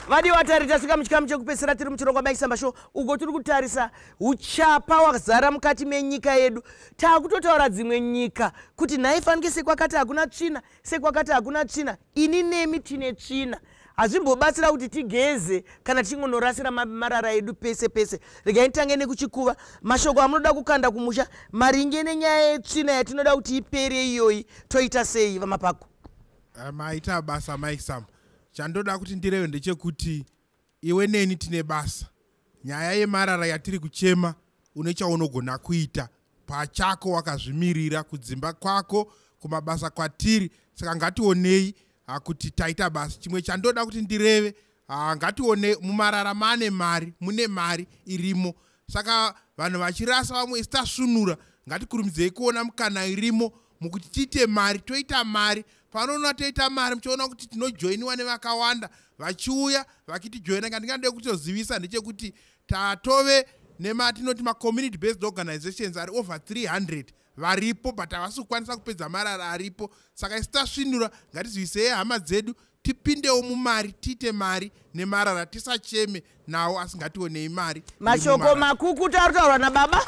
vadi vatari tasvika muchikamu chekupedzisira tiri muchirongwa maisamba sho uko tiri kutarisa uchapa hwazara mukati menyika yedu taakutotaura dzimwe nyika kuti nhaifanike sekwakati hakuna tsvina sekwakati hakuna tsvina ini nemi tine tsvina hazvimbobatsira kuti tigeze kana tichingonorasira marara edu pese pese regai titange nekuchikuva mashoko amunoda kukanda kumusha maringe nenyaya yetsvina yatinoda kuti ipere iyoyi toita sei vamapako eh, maita basa maisam chandoda kuti ndireve ndechekuti Iwe neni tine basa. Nyaya yemarara yatiri kuchema une chaunogona kuita pachako wakazvimirira kudzimba kwako kumabasa kwatiri saka ngationei ah, kuti taita basa chimwe chandoda kuti ndireve ah, ngationei mumarara mane mari mune mari irimo saka vanhu vachirasa vamwe isi tasvunura ngatikurumidzeyi kuona mukana irimo mukuti tiite mari toita mari panoona toita mari muchiona kuti tinojoiniwa nevakawanda vachiuya vakitijoina ngandingandei kutozivisa ndechekuti tatove nematinoti macommunity based organizations ari over 300 varipo but havasi kukwanisa kupedza marara aripo saka isi tasvinura ngatizivisei hama dzedu tipindewo mumari tiite mari nemarara tisacheme nawo asingationei mari mashoko makukuta ari kutaurwa nababa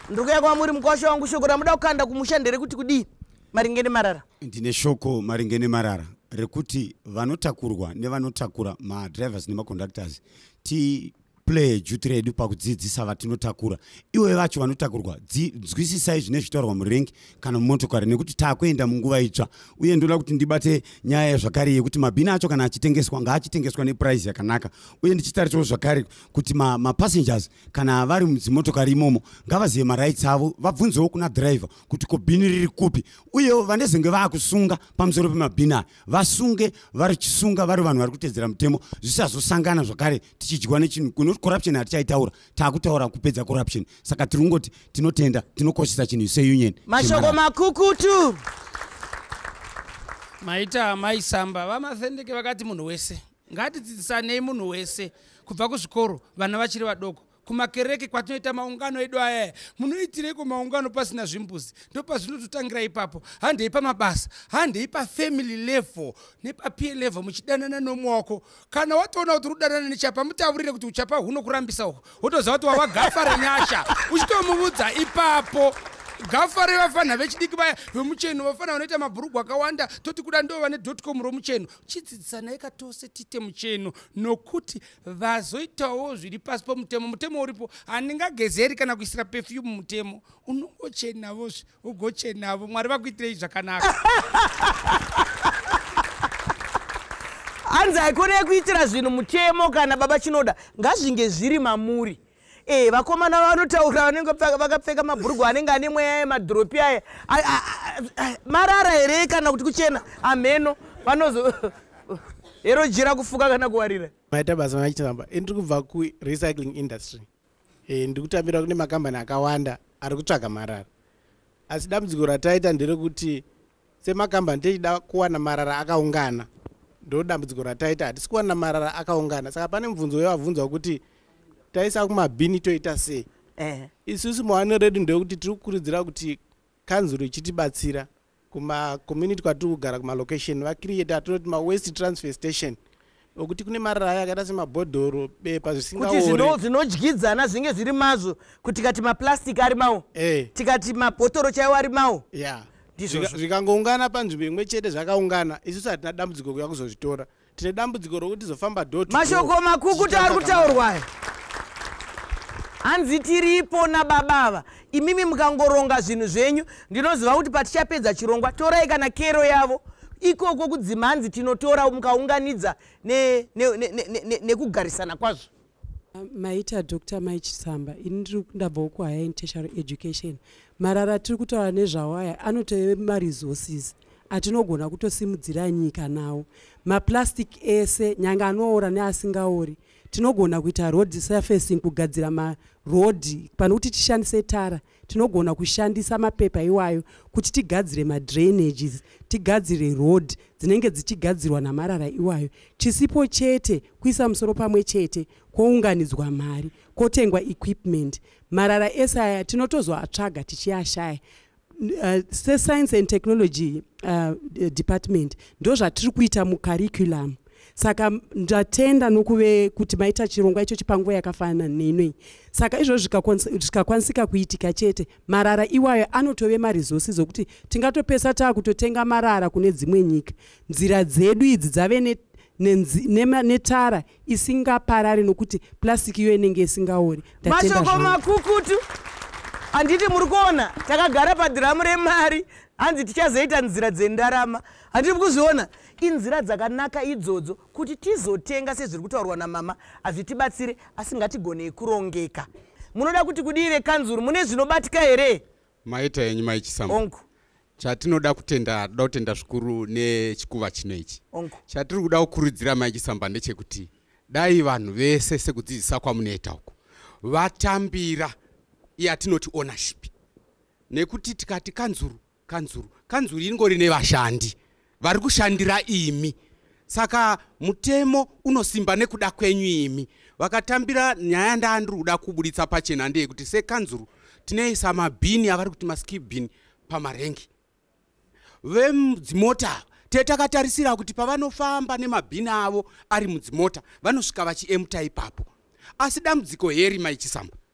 ndiri kuya kwamuri mukosho wangu shoko ramuda kukanda kumusha nderekuti kudii maringe nemarara ndine shoko maringe nemarara rekuti vanotakurwa nevanotakura madrivers nemaconductors ti play duty redu pakudzidzisa vatinotakura iwe vacho vanotakurwa nzwisisai zvine zvitaurwa murengi kana mumotokari nekuti taakuenda munguva itsva uye ndoda kuti ndibate nyaya yazvakare yekuti mabhini acho kana achitengeswa ngaachitengeswa nepuraizi yakanaka uye ndichitarisawo zvakare kuti mapassengers ma kana vari mudzimotokari imomo ngavazive marights avo vabvunzewo kuna driver kuti ko bhini riri kupi uyewo vandezenge vaakusunga pamusoro pemabhini aya vasunge varichisunga vari vanhu vari kutedzera mutemo zvisazosangana zvakare tichidyiwa nechinhu kunoti corruption hatichaitaura taakutaura kupedza corruption saka tiri kungoti tinotenda tinokoshesa chinhu seunion mashoko makukutu maita amai samba vamathendeke vakati munhu wese ngatidzidzisanei munhu wese kubva kuzvikoro vana vachiri vadoko kumakereke kwatinoita maungano edu ayaya munoitireiko maungano pasina zvimbuzi ndopazvinototangira ipapo handei pamabasa handei pafamily level nepapie level muchidanana nomwe wako kana watoona kuti udanana nechapa mutaurire kuti uchapa hunokurambisa uhu wotoziva kuti wava gafa renyasha uchitomuvudza ipapo gafa revafanha vechidiki vaya vemucheno vafanha vanoita mabhurugwa akawanda toti kuda ndo vane dotcom romucheno chidzidzisanayi katose tite mucheno nokuti vazoitawo zviri pasi pomutemo mutemo uripo handingagezeri kana kuisira pefyumu mutemo unongochenavozve ugochenavo mwari vakuitirei zvakanaka hanzi haikona yekuitira zvinhu mutemo kana baba chinoda ngazvinge zviri mamuri e vakomana vanotaura vanenge vakapfeka mabhurugu anenge ane mweya yemadhiropi aya marara here kana kuti kuchena amheno vanozo hero jira kufuka kana kuwarira maita basa machitamba ini tiri kubva kurecycling industry e, ndikutambira kune makambani akawanda ari kutsvaga marara asi dambudziko rataita nderekuti semakambani tichida kuwana marara akaungana ndo dambudziko rataita hatisi kuwana marara akaungana saka pane mubvunzo wevabvunza wekuti taisa kumabhini toita sei eh. isusu mawaniro redu ndewekuti tiri kukurudzira kuti kanzuro ichitibatsira kuma community kwatiri kugara kumalocation vacreate atinoti mawaste transfer station okuti kune maraya akaita semabhodhoro bepa zvisingakuti zvinodyidzana zvinge zviri mazvo kuti tikati maplastic ari mawo eh. tikati mabhotoro chaiwo ari mawo zvikangoungana panzvimbo imwe chete zvakaungana isusu hatina dambudziko kuya kuzozvitora tine dambudziko rokuti tizofamba do mashoko makukuta ari kutaurwayo hanzi tiripo nababa ava imimi mukangoronga zvinhu zvenyu ndinoziva kuti patichapedza chirongwa torai kana kero yavo ikoko kudzima hanzi tinotora mukaunganidza nekugarisana ne, ne, ne, ne, kwazvo maita doctor mai chisamba ini ndiri kundabvawo kuhigher in tertiary education marara tiri kutaura nezvawo aya anotove maresources atinogona kutosimudzira nyika nawo maplastic ese nyange anoora neasingaori tinogona kuita road surfacing kugadzira marodhi pane kuti tishandise tara tinogona kushandisa mapepa iwayo kuti tigadzire madrainages tigadzire road dzinenge dzichigadzirwa namarara iwayo chisipo chete kuisa musoro pamwe chete kwounganidzwa mari kwotengwa equipment marara ese aya tinotozoatsvaga tichiashaya uh, sescience and technology uh, department ndozvatiri kuita mucurriculum uh, saka ndatenda nokuve kuti maita chirongwa ichochi panguva yakafanana neinoi saka izvozvo zvikakwanisika kuitika chete marara iwayo anotove maresources okuti tingatopesa taa kutotenga marara kune dzimwe nyika nzira dzedu idzi dzave ne netara isingaparari nokuti plastic iyo inenge isingaori mashoko makukutu handiti muri kuona takagara padhiramu remari hanzi tichazoita nzira dzendarama handiti mukuzviona Inzira dzakanaka idzodzo kuti tizotenga sezviri kutaurwa namama hazvitibatsire asi ngatigonei kurongeka. Munoda kuti kudii vekanzuru mune zvinobatika here? Maita yenyu mai Chisamba. Onku chatinoda kutenda toda kutenda zvikuru nechikuva chino ichi chatiri kuda kukurudzira mai chisamba ndechekuti dai vanhu vese sekudzidzisa kwamunoita uku vatambira yatinoti ownership nekuti tikati kanzuru kanzuru kanzuru ingori nevashandi vari kushandira imi saka mutemo unosimba nekuda kwenyu imi vakatambira nyaya ndaandiri kuda kuburitsa pachena ndeyekuti sekanzuru tinoisa mabhini avari kuti maskibhini pamarengi vedzimota te takatarisira kuti pavanofamba nemabhini avo ari mudzimota vanosvika vachiemta ipapo asi dambudziko heri maichisamba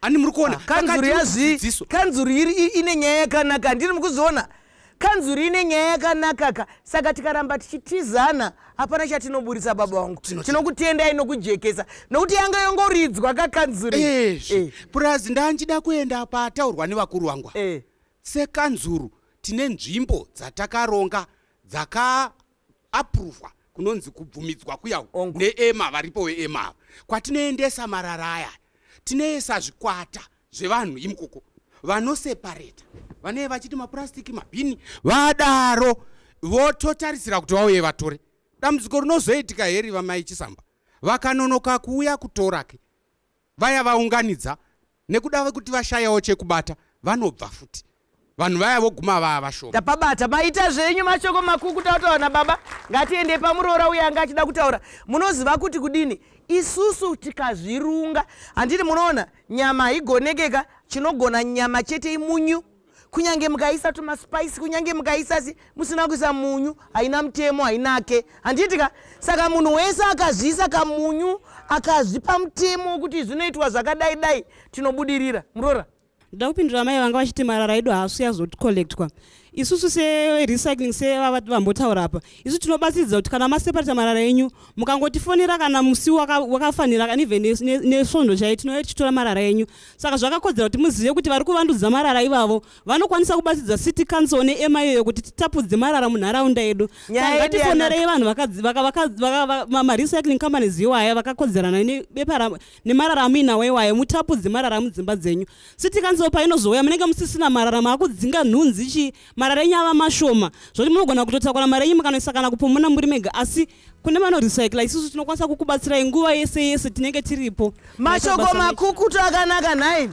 ani muri kuona ah, kanzuru yazvii kanzuru iri ine nyaya yakanaka handini mukuziona kanzuru ine nyaya yakanakaka saka tikaramba tichitizana hapana chatinoburitsa baba vangu tinokutendai nokujekesa nokuti yanga yongoridzwa kakanzuru eh. purazi ndanjida kuenda pataurwa nevakuru vangwa eh. sekanzuru tine nzvimbo dzatakaronga dzaka apuruvwa kunonzi kubvumidzwa kuya neema varipo weema ava kwatinoendesa marara aya tinoisa zvikwata zvevanhu imukoko vanosepareta vanee vachiti mapurasitiki mabhini vadaro vototarisira kuti vauye vatore dambudziko rinozoitika heri vamai chisamba vakanonoka kuuya kutorake vaya vaunganidza nekuda vekuti vashayawo chekubata vanobva futi vanhu vaya voguma vaa vashoma tapabata maita zvenyu mashoko makuku tautawana baba ngatiende pamuroora uye anga achida kutaura munoziva kuti kudini isusu tikazvirunga handiti munoona nyama haigonekeka chinogona nyama chete imunyu kunyange mukaisa tumaspice kunyange mukaisa si musina kuisa munyu haina mutemo hainake handiti ka saka munhu wese akazviisa kamunyu akazvipa mutemo wekuti zvinoitwa zvakadai dai tinobudirira murora ndoda kupindura mai vanga vachiti marara edu haasu yazocolectwa isusu serecycling sevavati vambotaura apa isu tinobatsiridza kuti kana maseparata marara enyu mukangotifonera kana musi wakafanira kana even nesvondo chai tinouya tichitora marara enyu Saka zvakakodzera kuti muzive kuti vari kuvandudza marara ivavo vanokwanisa kubatsirza city council neema iyoyo kuti titapudze marara munharaunda yedu. Saka ngatifonerei vanhu marecycling companies iwaya vakakodzerana nemarara amuinawo iwayo mutapudze marara mudzimba dzenyu. City council painozouya munenge musisina marara maakudzinga nhunzi chii marara enyu ava mashoma zvoti munogona kutotakura mari yenyu mukanoisa kana kupomona muri mega asi kune vanorecycla isusu tinokwanisa kukubatsirai nguva yese yese tinenge tiripo mashoko makukutu akanaka nhai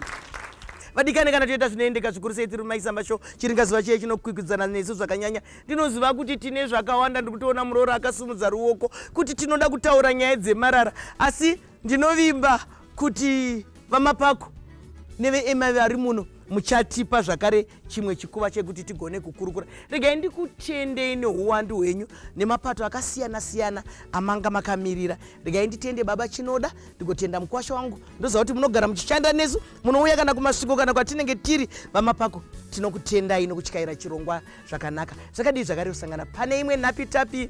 vadikane kana toita zvinoendeka zvikuru sei tiri mumaisamba sho chiringazuva chiye chinokwikwidzana nesu zvakanyanya ndinoziva kuti tine zvakawanda ndiri kutoona murooro akasimudza ruoko kuti tinoda kutaura nyaya dzemarara asi ndinovimba kuti vamapako nevema vari muno muchatipa zvakare chimwe chikuva chekuti tigone kukurukura regai ndikutendei neuwandu hwenyu nemapato akasiyana siyana amanga makamirira regai nditende baba chinoda ndigotenda mukwasha wangu ndoziva kuti munogara muchishanda nesu munouya kana kumasviko kana kwatinenge tiri vamapako tinokutendai nokutyaira chirongwa zvakanaka zvakadii zvakare kusangana pane imwe nhapitapi